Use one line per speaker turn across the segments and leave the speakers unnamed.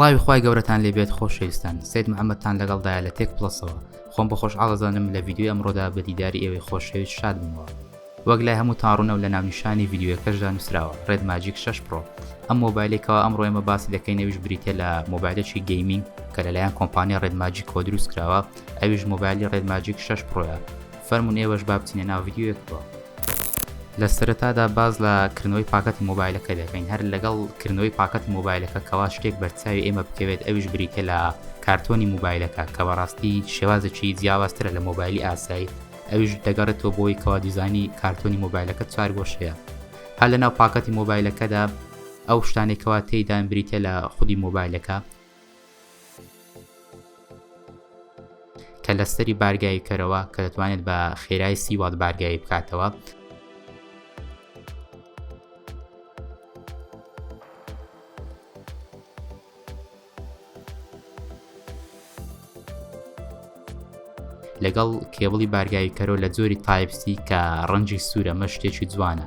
سڵاوی خی گەورەتان لێبێت خۆشەویستان سید محەممەدتان لەگەڵدایە لە تێک پلسەوە خۆم بە خۆش ئاڵزانم لە یددیو ئەمڕۆدا بە دیداری ئێوەی خۆشەویست شاد بوومەوە وەک لای هەموو تاڕوونە و لە ناونیشانی یددیوەکەشدا نووسراوە ڕێد ماجیک 6 پرۆ ئەم مۆبایلێکەوە ئەمڕۆ ئێمە باسی دەکەینەویش بریتە لە مۆبایلێکی گەیمینگ کە لەلایەن کۆمپانیا ڕێد ماجیکەوە دروست کراوە ئەویش مۆبایلی ڕێد ماجیک شەش پرۆیە فەرمون ئێوەش با بچینە ناو ڤیددیوەکەوە لە سەرەتادا باز لە کردنەوەی پاکەتی مۆبایلەکە دەکەین هەر لەگەڵ کردنەوەی پاکەتی مۆبایلەکە کەوا شتێک بەرچاوی ئێمە بکەوێت ئەویش بریتە لە کارتۆنی مۆبایلەکە کە بەڕاستی شێوازێکی جیاوازترە لە مۆبایلی ئاسایی ئەویش دەگەڕێتەوە بۆی کەوا دیزانی کارتۆنی مۆبایلەکە چوار گۆشەیە هەر لە ناو پاکەتی مۆبایلەکەدا ئەو شتانێکەوە تێدان بریتە لە خودی مۆبایلەکە کە لەسەری بارگایی کەرەوە کە دەتوانێت بە خێرای سی وات بارگایی بکاتەوە لەگەڵ کێبڵی بارگایی کەرۆ لە جۆری تایپسی کە ڕەنجی سوورە مە شتێکی جوانە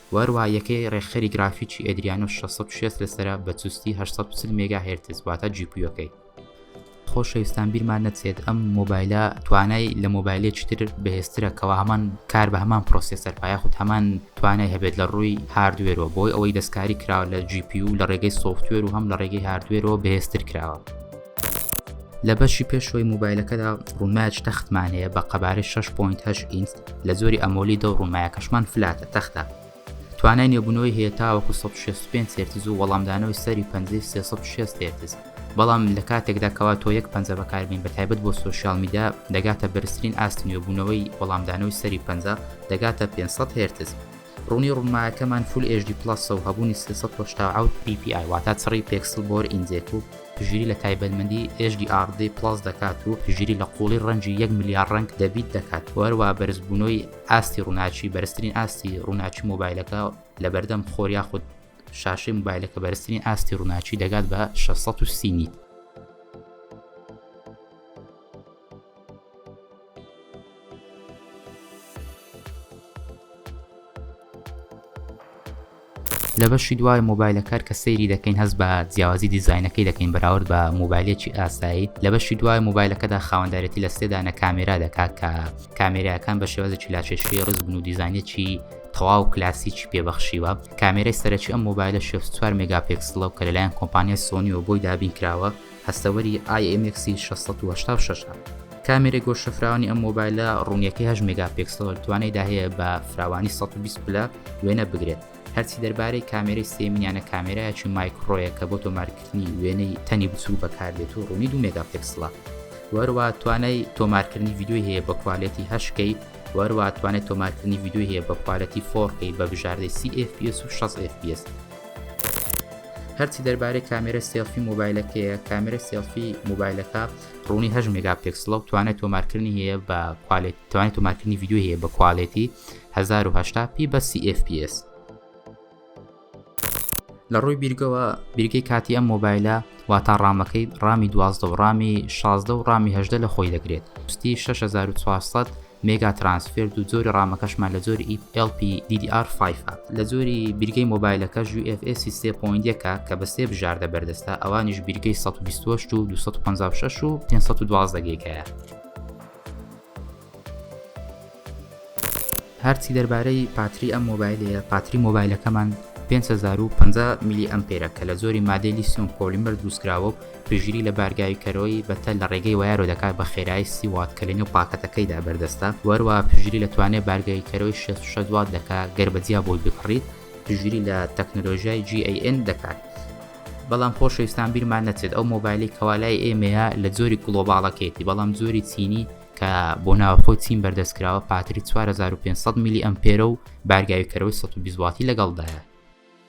و هەروەها یەکەی ڕێکخەری گرافیکی ئەدریانۆ شەش سەد و شەست لەسەرە بە چوستی هەشت سەد و چل مێگا هێرتز واتە جیپویەکەی خۆشەویستان بیرمان نەچێت ئەم مۆبایلە توانای لە مۆبایلێکی تر بەهێزترە کەەوە هەمان کار بە هەمان پرۆسێسەر پایاخود هەمان توانای هەبێت لە ڕووی هاردوێرەوە بۆی ئەوەی دەستکاری کراوە لە جیپی و لە ڕێگەی سوفتوێر و هەم لە ڕێگەی هاردوێرەوە بەهێزتر کراوە لە بەشی پێشوەی موبایلەکەدا ڕووماج تەختمان هەیە بە قەبارەی 6.8 ئینس لە زۆری ئەمۆلی دە ڕوومایەکەشمان فلاتە تەختە توانای نێبوونەوەی هەیە تاوەکو 1665 سرتز و وەڵامدانەوەی سەری 560 تێرتز بەڵام لە کاتێکدا کەوا تۆ یەک پەنجە بەکاربین بە تایبەت بۆ سوسیال میدا دەگاتە بەرزترین ئاست نوێبوونەوەی وەڵامدانەوەی سەری پەنجە دەگاتە 500 هێرتز ڕونی ڕونمایەکەمان فول ئێچ دی پڵەسە و هەبوونی سێ سەد و هەشتا و حەوت پی پی ئای واتە چڕی پێکسڵ بۆر ئینجێک و پژیری لە تایبەتمەندی ئێچ دی ئاڕ دی پڵەس دەکات و پژیری لە قوڵی ڕەنجی یەک ملیار ڕەنگ دە بیت دەکات و هەروەها بەرزبوونەوەی ئاستی ڕوناکی بەرزترین ئاستی ڕوناکی مۆبایلەکە لەبەردەم خۆر یاخود شاشەی مۆبایلەکە بەرزترین ئاستی ڕوناکی دەگات بە 630 نیت لە بەشی دوای مۆبایلە کار کە سەیری دەکەین هەست بە جیاوازی دیزینەکەی دەکەین بەراورد بە مۆبایلێکی ئاسایی لە بەشی دوای مۆبایلەکەدا خاوەندارێتی لە سێدانە کامێرا دەکات کە کامێراەکان بە شێوازێکی لاچێشی ڕز بن و دیزانێکی تەواو کلاسیکی پێبەخشیوە کامێرای سەرەکی ئەم مۆبایلە 64 مگاپێکسلەوە کە لەلایەن کۆمپانیای سۆنیەوە بۆی دابین کراوە هەستەوەری ئای ئێم ئێکسی شەش سەد و هەشتا و شەش ە. کامێرەی گۆش شەفراوانی ئەم مۆبایلە ڕوونیەکەی هەشت مێگا پێکسەڵ توانایدا هەیە بە فراوانی سەد و بیست پلە وێنە بگرێت. هەرچی دەربارەی کامێرەی سێمینیانە کامێرایەکی مایکڕۆیە کە بۆ تۆمارکردنی وێنەی تەنی بچووک بەکاردێت و ڕوونی دوو مێگا پێکسڵە. وەروا توانای تۆمارکردنی ڤیدیۆی هەیە بە کوالێتی هەشت کەی وەروا توانای تۆمارکردنی ڤیدیۆی هەیە بە کوالێتی فۆڕ کەی بە بژاردەی سی ئێف پی ئێس و شەست ئێف پی ئێس. هەرچی دەربارەی کامێرە سێڵفی مۆبایلەکەیە کامێرە سێڵفی مۆبایلەکە ڕوونی هەژ مێگا پێکسڵە و توانێت تۆمارکردنی هەیە بە کوالێت توانێت تۆمارکردنی یددیو هەیە بە کوالێتی 1970 پی بە CFPS لە ڕووی بیرگەوە بیرگەی کاتی ئەم مۆبایلە واتا ڕامەکەی ڕامی دوازدە و ڕامی شازدە و ڕامی هەدە لە خۆی دەگرێت پستی 6400 مێگا ترانسفێرد و جۆری ڕامەکەشمان لە جۆری ئی ئێڵ پی دی دی ئار فایڤ ە. لە جۆری بیرگەی مۆبایلەکەش یو ئێف ئێسی سێ پۆینت یەک ە کە بە سێ بژاردە بەردەستە ئەوانیش بیرگەی سەد و بیست و هەشت و دوو سەد و پەنجا و شەش و پێنج سەد و دوازدە گێگایە. هەرچی دەربارەی پاتری ئەم مۆبایلەیە پاتری مۆبایلەکەمان پێنج هەزار و پەنجا میلی ئەمپێرە کە لە جۆری مادەی لیسیۆم پۆلیمەر دروستکراوە و پشتگیری لە بارگاوی کەرۆی بەتەل لە ڕێگەی وایەرەوە دەکات بە خێرایی سی وات کە لە نێو پاکەتەکەیدا بەردەستە و هەروەها پشتگیری لە توانای بارگاوی کەرۆی شەست و شەش وات دەکات گەر بە جیا بۆی بکڕیت پشتگیری لە تەکنۆلۆژیای GAN دەکات بەڵام خۆشەویستان بیرمان نەچێت ئەو مۆبایلی کەوالای ئێمەیە لە جۆری گڵۆباڵەکەیتی بەڵام جۆری چینی کە بۆ ناوخۆی چین بەردەستکراوە پاتری 4500 میلی ئەمپێرە و بارگاوی کەرەوەی 120 واتی لەگەڵدایە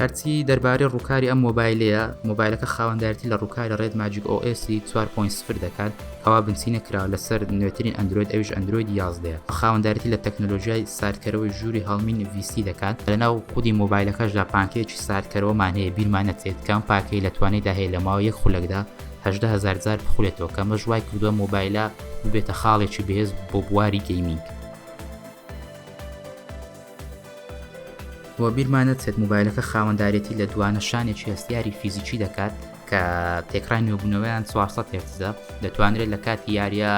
هەرچی دەربارەی ڕووکاری ئەم مۆبایلەیە مۆبایلەکە خاوەندارتی لە ڕووکاری ڕێت ماجیک OS 4.0 دەکات ئەوا بنچینە کراوە لەسەر نوێترین ئەندرۆید ئەویش ئەندرۆید 11 بە خاوەندارتی لە تەکنەلۆژیای ساردکەرەوەی ژووری هەڵمینی VC دەکات لەناو خودی مۆبایلەکەشدا پانکەیەکی ساردکەرەوەمان هەیە بیرمان نەچێت کە ئەم پاکەی لە توانیدا هەیە لە ماوەی یەک خولەکدا هەژدە هەزار جار بخولێتەوە کە ئەمەش وای کردووە مۆبایلە ببێتە خاڵێکی بەهێز بۆ بواری گەیمینگ. و بیرمان نەچێت موبایلەکە خاوەندارێتی لە دوانە شانێکی هەستیاری فیزیکی دەکات کە تێکڕای نوێبوونەوەیان 400 هێرتزە دەتوانرێت لە کاتی یاریە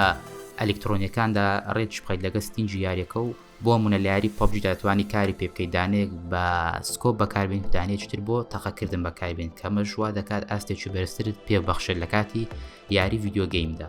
ئەلکترۆنیەکاندا ڕێکی بخیت لەگە ستینجی یاریەکە و بۆ منە لە یاری پۆبجی دەتوانانی کاری پێ بکەیت دانێک بە سکۆ بەکاربین دانێکتر بۆ تەقەکردن بەکاربین کەمە ژوا دەکات ئاستێکی بەرزترت پێبەخشێت لە کاتی یاری ڤیددیوگەیمدا.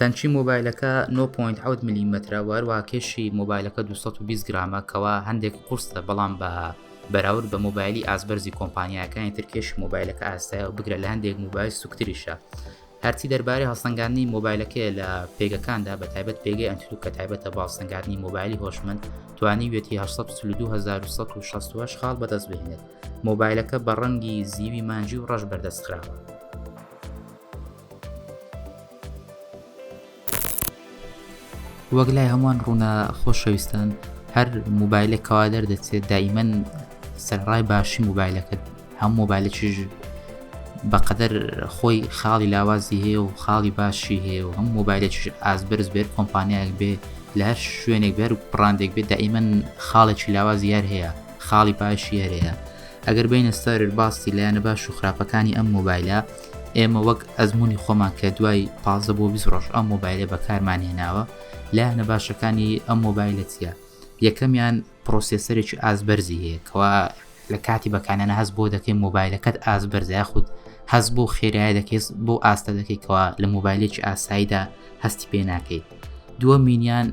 تەنکی مۆبایلەکە 9.7 ملیمەترە و هەروە کێشی مۆبایلەکە 220 گرامە کەوا هەندێک قرسە بەڵام بە بەراورد بە مۆبایلی ئاسبەرزی کۆمپانیایەکانی ترکێش مۆبایلەکە ئاستایە و بگرە لە هەندێک مۆبایل سوکتریشە هەرچی دەربارەی هەڵسەنگاندنی مۆبایلەکەیە لە پێگەکاندا بە تایبەت پێگەی ئەنتلوک کە تایبەتە بە هەڵسەنگاندنی مۆبایلی هۆشمەند توانیویەتی 1920 خاڵ بەدەست بهێنێت مۆبایلەکە بە ڕەنگی زیوی مانجی و ڕەش بەردەستخراوە وەک لای هەمووان ڕوونە خۆشەویستان هەر موبایلێک کەوا دەردەچێت دایمەن سەرڕای باشی موبایلەکەت هەم مۆبایلەکیش بەقەدەر خۆی خاڵی لاوازی هەیە و خاڵی باشی هەیە و هەم مۆبایلەکیش ئازبرز بێت کۆمپانیایەک بێ لە هەر شوێنێک بەر پڕاندێک بێت دایمەن خاڵێکی لاوازی هەر هەیە خاڵی باشی هەرەیە ئەگەر بینە سەر باسی لایەنە باش و خراپەکانی ئەم مۆبایلە ئێمە وەک ئەزمونی خۆمان کە دوای پازە بۆ بیست ڕۆژ ئەم مۆبایلە بەکارمان هێناوە لایەنە باشەکانی ئەم مۆبایلە چیە یەکەمیان پرۆسیسەرێکی ئازبەرزی هەیە کەوا لە کاتی بەکانەنە هەست بۆ دەکەی مۆبایلەکەت ئازبەرزای خودت هەز بۆ خێرای دەکەیت بۆ ئاستە دەکەیتەوە لە مۆبایلێکی ئاساییدا هەستی پێ ناکەیت دووە مینیان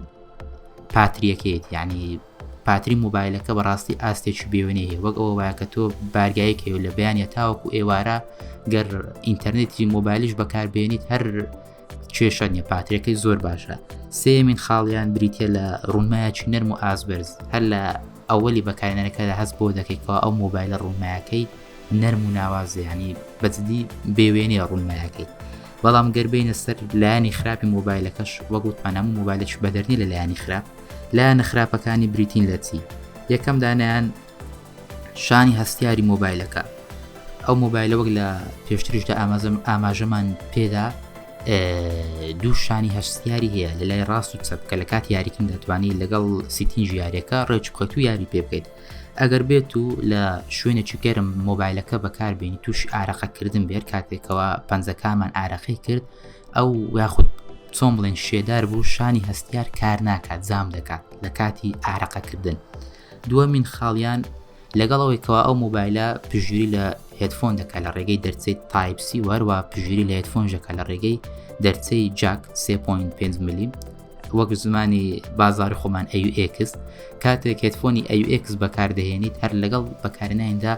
پاتریەکەیت یعنی پاتری موبایلەکە بەڕاستی ئاستێکی بێوێنەی هەیە وەک ئەوە وایە کە تۆ بارگایەک هەیە لە بەیانە تاوەکو ئێوارە گەر ئینتەرنێتی مۆبایلیش بەکاربێنیت هەر کێشە نیە پاترەکەی زۆر باشە سێمین خاڵیان بریتە لە ڕوونمایەکی نەرم و ئازبرز هەر لە ئەوەی بەکارێنەکە لە هەست بۆ دەکەیتەوە ئەو مۆبایلە ڕوونمایەکەی نەرم و ناوازیانی بەجددی بێوێنێ ڕوونمایەکەی بەڵام گەربینە سەر لایانی خراپی مۆبایلەکەش وەگوتمان هەموو مۆبایلش بەدەرنی لە لایانی خراپ لایەنە خراپەکانی بریتین لە چی یەکەم دانیان شانی هەستیاری مۆبایلەکە ئەو مۆبایلە وەک لە پێشتریشدا ئامازم ئاماژەمان پێدا دوو شانی هەستیاری هەیە لە لای ڕاست و چەپ کە لە کات یاریکن دەتوانانی لەگەڵ سیتین ژارەکە ڕێچ بکەوت و یاری پێ بکەیت ئەگەر بێت و لە شوێنێکی گەرم مۆبایلەکە بەکاربیێنی تووشی ئارەقەکردن بێت کاتێکەوە پەنجەکانمان ئارەقی کرد ئەو یاخود چۆن بڵێن شێدار بوو شانی هەستیار کار ناکات زام دەکات لە کاتی ئارەقەکردن دووە من خاڵیان لەگەڵەوەی کەوا ئەو مۆبایلە پژوری لە هێتفۆن دەکات لە ڕێگەی دەرچەی تایپسی وەروە پژوری لە هێتفۆن ژەکە لە ڕێگەی دەرچەی جاک 3.5 ملیم وەک زمانی بازار خۆمان ئەوX کاتێک هێتفۆنی ئەوX بەکاردەهێنیت هەر لەگەڵ بەکارنایندا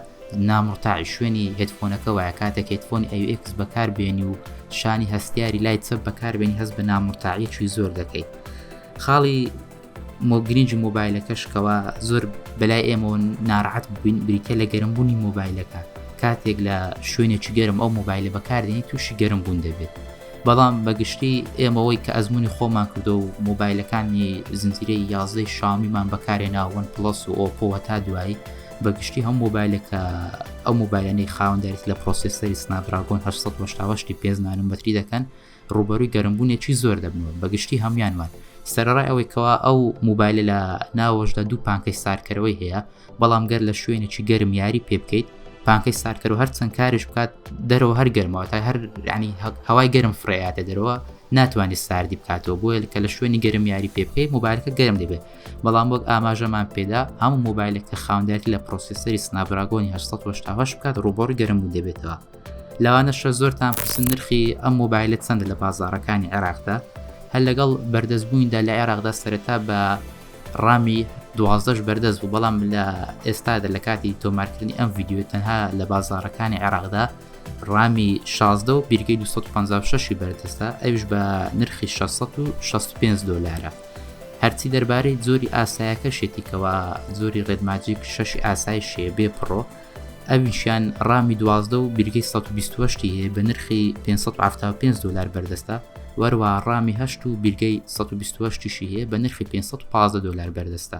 نامرتاعی شوێنی هێدفۆنەکە وایە کاتێک هێدفۆنی AUX بەکاربێنی و شانی هەستیاری لای چەپ بەکاربێنی هەست بە نامرتاعیەکی زۆر دەکەیت خاڵی مۆگرنج مۆبایلەکەشکەوە زۆر بەلای ئێمە ناراحەت بووین بریتە لە گەرمبوونی مۆبایلەکە کاتێک لە شوێنێکی گەرم ئەو مۆبایلە بەکاردێنی تووشی گەرم بوون دەبێت بەڵام بەگشتی ئێمەوەی کە ئەزمموی خۆمان کردو و مۆبایلەکانی زنجیرەی یازدەی شامیمان بەکارێناوەن پلس و ئۆپۆوە تا دوایی بەگشتی هەم مۆبایلێک کە ئەو مۆبایلەنەی خاوەندێک لە پرۆسیسەری سناپراگۆن 1970 پێ نانومەتری دەکەن ڕوبەروی گەرمبوونێکی زۆر دەبنەوە بەگشتی هەموانمان سەرڕای ئەوەی کەوا ئەو موبایلە لە ناوەشدا دوو پانکەی سارکەرەوەی هەیە بەڵام گەر لە شوێنێکی گەرم یاری پێ بکەیت پانکەی سارکەر و هەر چەند کارش بکات دەرەوە هەر گەرمەوە تا هەر ینی هەوای گەرم فرەیاتە دەرەوە ناتوانێت ساردی بکاتەوە بۆیە کە لە شوێنی گەرم یاری پێ بکەیت موبایلەکە گەرم دەبێت بەڵام وەک ئاماژەمان پێدا هەموو مۆبایلێک کە خاوندێتی لە پرۆسیسەری سنابراگۆنی 1970 بکات ڕوبۆڕی گەرم و دەبێتەوە لەوانەشە زۆرتان پرسن نرخی ئەم مۆبایلە چەندە لە بازارەکانی عێراقدا هەر لەگەڵ بەردەستبوویندا لە عێراقدا سەرەتا بە ڕامی دوازدەش بەردەست بوو بەڵام لە ئێستادا لە کاتی تۆمارکردنی ئەم یددیو تەنها لە بازارەکانی عێراقدا ڕامی 16 و بیرگەی 256 بەردەستە ئەوش بە نرخی 665 دلارە هەرچی دەربارەی جۆری ئاسایەکەشێتی کەوا جۆری ڕێدماجیک شەشی ئاسای شێ بێ پڕۆ ئەویشیان ڕامی دوازدە و بیرگەی 1920 هەیە بە نرخی 575 دلار بەردەستە وەروە ڕامی هەشت و بیرگەی 1920 هەیە بە نرخی 515 دلار بەردەستە